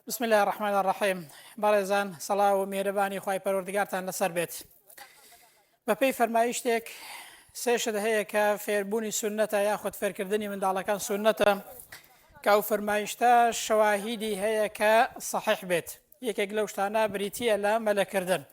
بسم اللە الرحمن الرحیم بەڕێزان سەڵاو و مێرەبانی خوای پەروەردگارتان لەسەر بێت بەپێی فەرمایشتێک سێشت هەیە کە فێربوونی سنەتە یاخود فێرکردنی منداڵەکان سنەتە کە ئەو فەرمایشتە شەواهیدی هەیە کە صحیح بێت یەکێک لەو شتانە بریتە لە مەلەکردن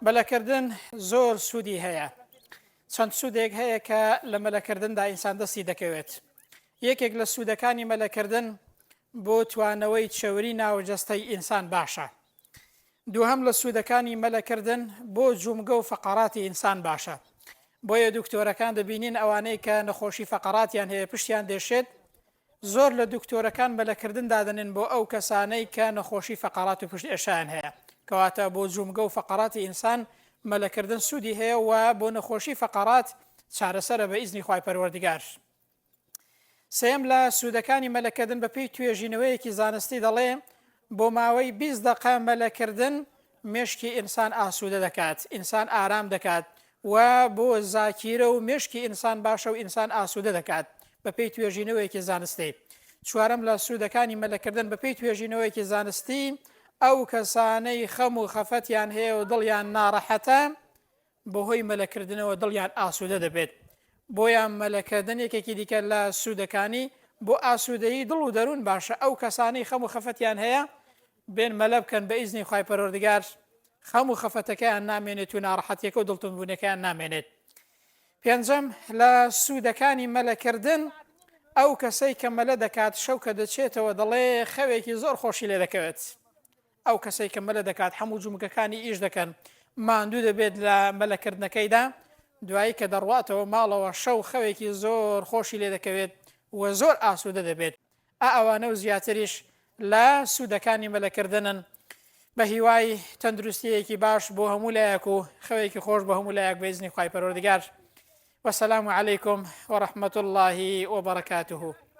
مەلەکردن زۆر سوودی هەیە چەند سوودێک هەیە کە لە مەلەکردندا ئینسان دەستی دەکەوێت یەکێک لە سوودەکانی مەلەکردن بۆ توانەوەی چەوری ناو جەستەی ئینسان باشە. دووهەم لە سوودەکانی مەلە کردن بۆ جومگە و فەقەراتی ئینسان باشە. بۆیە دوکتۆرەکان دەبینین ئەوانەی کە نەخۆشی فەقەراتیان هەیە پشتیان دێشێت زۆر لە دوکتۆرەکان مەلە کردن دادەنێن بۆ ئەو کەسانەی کە نەخۆشی فەقەرات و پشت ئێشان هەیە کەواتە بۆ جومگە و فەقەراتی ئینسان مەلەکردن سوودی هەیە و بۆ نەخۆشی فەقەرات چارەسەرە بە ئیزنی خی پەروەردگار. سێیەم لە سوودەکانی مەلەکردن بەپێی توێژینەوەیەکی زانستی دەڵێ بۆ ماوەی 20 دقە مەلەکردن مشکی ئینسان ئاسوودە دەکات ئینسان ئارام دەکات و بۆ زاکیرە و مشکی ئینسان باشە و ئینسان ئاسوودە دەکات بەپێی توێژینەوەیەکی زانستی چوارم لە سوودەکانی مەلەکردن بەپێی توێژینەوەیەکی زانستی ئەو کەسانەی خەم و خەفەتیان هەیە و دڵیان ناڕەحەتە بەهۆی مەلەکردنەوە دڵیان ئاسوودە دەبێت، بۆیە مەلەکردن یەکێکی دیکە لە سوودەکانی بۆ ئاسوودەیی دڵ و دەروون باشە، ئەو کەسانەی خەم و خەفەتیان هەیە بێن مەلە بکەن بە ئیزنی خوای پەروەردگار خەم و خەفەتەکەیان نامێنێت و ناڕەحەتیەکە و دڵتونبوونەکەیان نامێنێت. پێنجەم، لە سوودەکانی مەلەکردن، ئەو کەسەی کە مەلە دەکات شەو کە دەچێتەوە دەڵێ خەوێکی زۆر خۆشی لێ دەکەوێت، ئەو کەسەی کە مەلە دەکات حەموو جومگەکانی ئیش دەکەن ماندوو دەبێت لە مەلە کردنەکەیدا دوایی کە دەڕواتەوە ماڵەوە شەو خەوێکی زۆر خۆشی لێ دەکەوێت و زۆر ئاسوودە دەبێت ئا ئەوانە و زیاتریش لە سوودەکانی مەلەکردنن بە هیوای تەندروستیەکی باش بۆ هەموو لایەک و خەوێکی خۆش بە هەموو لایەک بەیزنی خی پەرۆردگار وسلام علیکم وەرحمەت اللهی وبرکاته